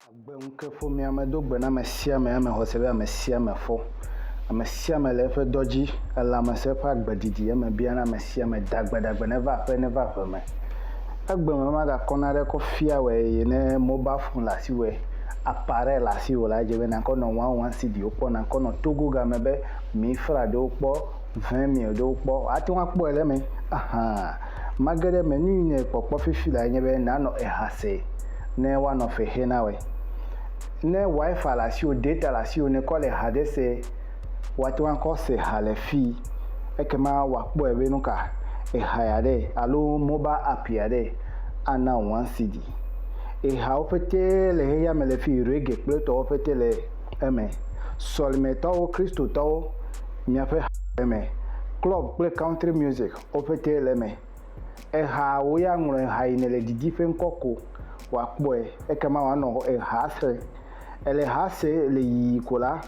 Agbeŋukefomea do gbe na ame sia ame eme xɔse be ame sia ame fɔ. Ame sia ame le eƒe dɔ dzi. Elãmesẽ ƒe agbe didi eme biana ame sia ame dagbe dagbe neva aƒe neva ʋe me. egbe me magakɔ naɖe kɔ fia wɛ eye ne mobile phone le asi wɛ appareil le asi wò la edze be nakɔ nɔ one one cd wo kpɔ nakɔ nɔ togo game be mi fra ɖewo kpɔ vin mil ɖewo kpɔ ate ŋu akpɔe le eme ahan mage ɖe eme nuyi ne kpɔ kpɔ fifi lae nye be nanɔ eha se ne woanɔ fe xe na wɛ ne wifi le asi wò data le asi wò ne kɔ le eha ɖe se woate ŋu akɔ se ha le fii. Ekema wòakpɔe be nu ka eha ya ɖe alo mobal app ya ɖe ana wò One CD. Ehawo ƒete le xexea me le fii, reggae kple etɔwo ƒete le eme. Sɔlimetɔwo, Kristotɔwo, miaƒe ha le eme. Klɔb kple country music, wo ƒete le eme. Eha wò ya ŋlɔ eha yi nèle didi ƒe ŋkɔ ko wòakpɔe. Ekema wòanɔ ehaa srem. Èle ehaa sem le yiyi ko la,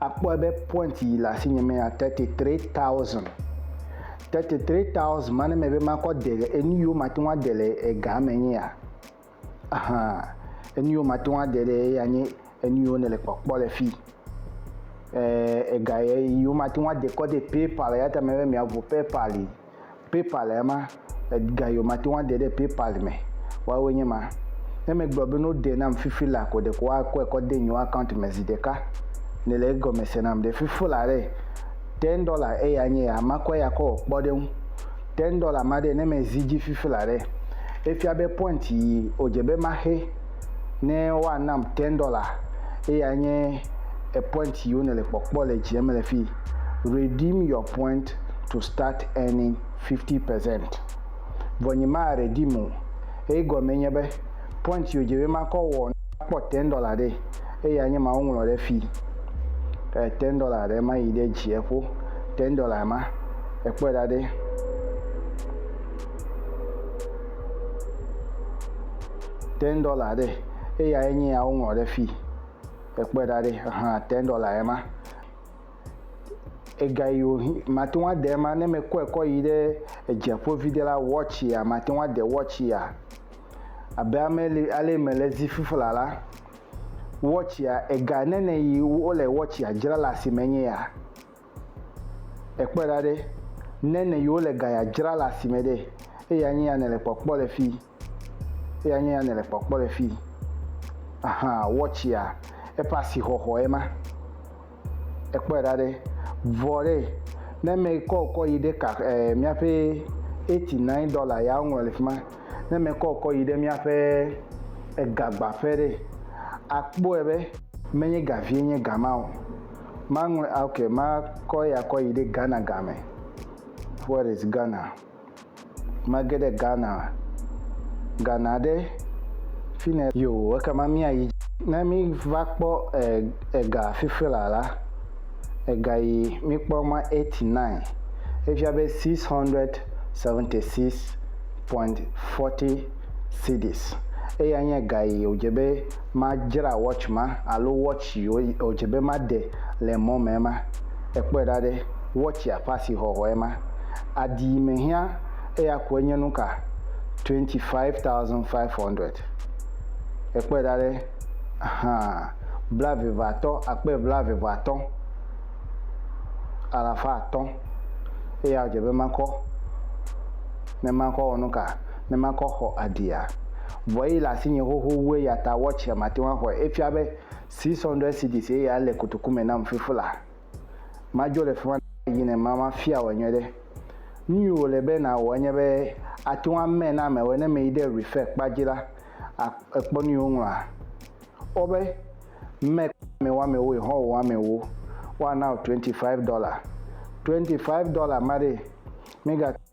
Akpɔe be point yi le asinye me ya 33,000. 33,000 ma ne me be makɔ de le enu yiwo mate ŋu ade le ega me nye ya. Aha, enu yiwo mate ŋu ade ɖe eya nye enu yiwo ne le kpɔkpɔ le fi. Eh, ega ye yiwo mate ŋu ade kɔ de PayPal ya ta me be mia vo PayPal yi. Paypal le ema. Ega yiwo mate ŋu ade ɖe Paypal me woawoe nye ma. Ne megblɔ be ne wodee nam fifi la ko ɖeko woakɔe kɔ de nyewo account me zi ɖeka. Nèle egɔme se nam. Ɖe fifi la ɖe, ten dɔla eya nye ya, makɔe akɔ wɔ kpɔɖeŋu. Ten dɔla ma ɖe, ne mezi edzi fifi la ɖe, efia be point yi wòdze be maxe. ne woanam ten dɔla, eyae nye epoint yi wone le kpɔkpɔ le dzi eme le fi. Redeem your point to start earning 50 percent. Vɔ nyi ma redeem o. Egɔme nye be point yi wodze be makɔ wɔ ne makpɔ ten dɔla ɖe, eyae nye ma woŋlɔ ɖe fi. E ten dɔla ɖe ma yi ɖe dzieƒo. Ten dɔla ma ekpɔe ɖa ɖe. ten dollar ɖe eya ye nye ya woŋlɔ ɖe fi ekpɔe ɖa ɖe hã ten dollar ye ma ega yi wo mate ŋu ade ma ne mekɔe kɔ yi ɖe edzeƒo vi ɖe la watch ya mate ŋu ade watch ya abe ame ale mele zi fifla la watch ya ega nene yi wole watch ya dzra le asime nye ya ekpɔe ɖa ɖe nene yi wole ga ya dzra le asime ɖe eya nye ya nele kpɔkpɔ le fi. Eya nye ya nèle kpɔkpɔ le fii. Aha, wɔtsia, eƒe asixɔxɔe ma. Èkpɔe ɖa ɖe? Vɔ ɖe, ne mekɔ ŋkɔ yi ɖe ka, e, míaƒe eighty nine dɔla ya woŋlɔ le fi ma, ne mekɔ ŋkɔ yi ɖe míaƒe egagbaƒe ɖe, akpɔe be menye ga vie nye ga ma o. Maŋlɔe, ok, makɔ eya kɔ yi ɖe Ghana ga me. Where is Ghana? Mage ɖe Ghana, Ghana ɖe fine yoo ekema mía yi. Ne mi va kpɔ e ega fifi la la ega yi mi kpɔ ma 89 efia be 676.40 cedis eye anye ega yi o dze be ma dzra watch ma alo watch yi o o dze be ma de le mɔ me ma ekpɔe ɖa ɖe watch ya ƒe asi hɔhɔ ema Adi yi me hiã eya koe nye nuka? 25,500. Èkpɔe ɖa ɖe? Hã, blaeveveatɔ̃, akpe blaeveveatɔ̃, alafa atɔ̃. Eya wòdze be makɔ. Ne makɔ awɔ nuka? Ne makɔ axɔ adia? Vɔ eyi le asinye xoxo wu eyata watch ya mate ŋu axɔe. Efia be 600 cedis ye ya le kotoku me nam fifila. Madzo le fi ma yi ne mafia wò enyɔ ɖe. Nu yi wòle be nàwɔ enye be àte ŋu amae na amewo ne meyi ɖe Refer kpa dzi la, èkpɔ nu yi woŋlɔa. Kpɔ be mɛ kpamɛ woamewo yi hɔn wò amewo. Woana wò twenty five dɔla. Twenty five dɔla ma ɖee, mègate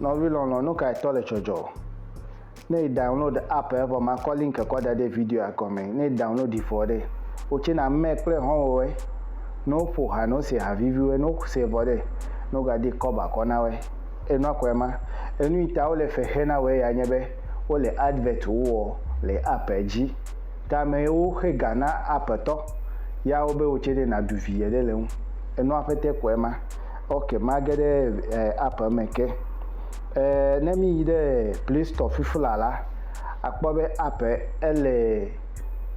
Nɔvi lɔlɔ nukae tɔ le tsɔdzɔ? Ne yi download app e vɔ ma kɔ link kɔ da ɖe video a gɔme ne yi download yi vɔ ɖe wo tse na mɛ kple hɔnwowɛ ne wo ƒo ha ne wo se ha viviwɛ ne wo se vɔ ɖe ne wo ga di kɔba kɔ na wɛ enua kɔɛ ma enu yi ta wo le fe xe na wɛ ya nye be wo le advert wo wɔ le app e dzi ta mɛ yi wo xe ga na app e tɔ ya wo be wo tse ɖe na ɖu vi ye ɖe le ŋu enua ƒete kɔɛ ma. Ok mage ɖe app me ke ne mi yi ɖe play store fifi la la akpɔ be app ele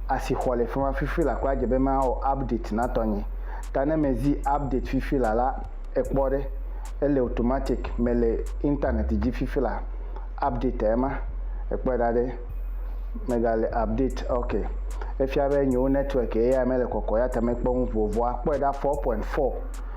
asixɔ le fi ma fifi la kɔ adze be mawɔ update na tɔnye ta ne mezi update fifi la la ekpɔ ɖe ele automatic mele internet dzi fifi la update ema ekpɔ da ɖe megale update ok efia be nyewo network eya mele kɔkɔ ya ta mekpɔ nu vovoa kpɔ da 4.4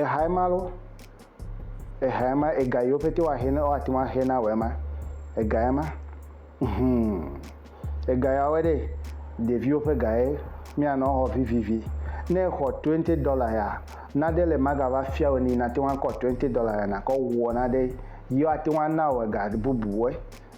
Ehae ma lɔ. Ehae ma, ega yiwo pete woahe na, woate ŋu ahe na wòe ma. Egae ma. Hum. Ega yawoe ɖe. Ɖeviwo ƒe gae míanɔ exɔ vivivi. Ne exɔ twenty dollar ya, naɖe le magava fia wò ni nàte ŋu akɔ twenty dollar ya nàkɔ wɔ naɖe. Yewoate ŋu ana wò ega bubuwoe.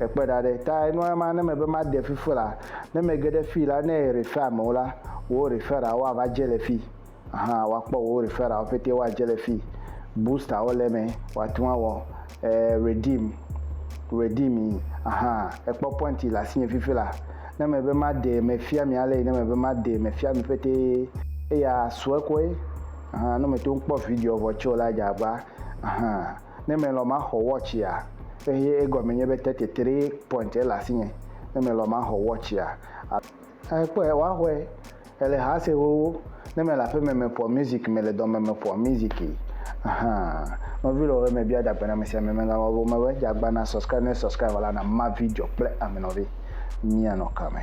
Ekpɔe ɖa ɖe, ta enɔa ema ne mebe made fi ƒu la, ne mege ɖe fii la, ne refer amewo la, wò referral wo ava dze le fii. Aha, wò akpɔ wò referral wo ƒete wo adze le fii. Booster wo le eme, wò ate ŋu awɔ redeem, redeem yi. Aha, ekpɔ point le asinye fifi la. Ne mebe made, me fia mi ale yi ne mebe made, me fia mi ƒete eya sue koe. Aha, ne me te ŋu kpɔ video vɔ tse o la, edze agba. Aha. Ne melɔ̃ maxɔ wɔtsia, eye egɔme nye be thirty three point ele asinye, ne melɔ̃ maxɔ wɔtsia, a, èkpɔe, woaxɔe, ele ha se xoxo, ne mele aƒeme meƒoa music, mele dɔme meƒoa music, ahan, nɔvi lɔlɔ̃ me bia dagbenamesiame megawɔ be womebe dzagbã na subscribe, ne subscribe la na ma video kple ame nɔvi, míanɔ kame.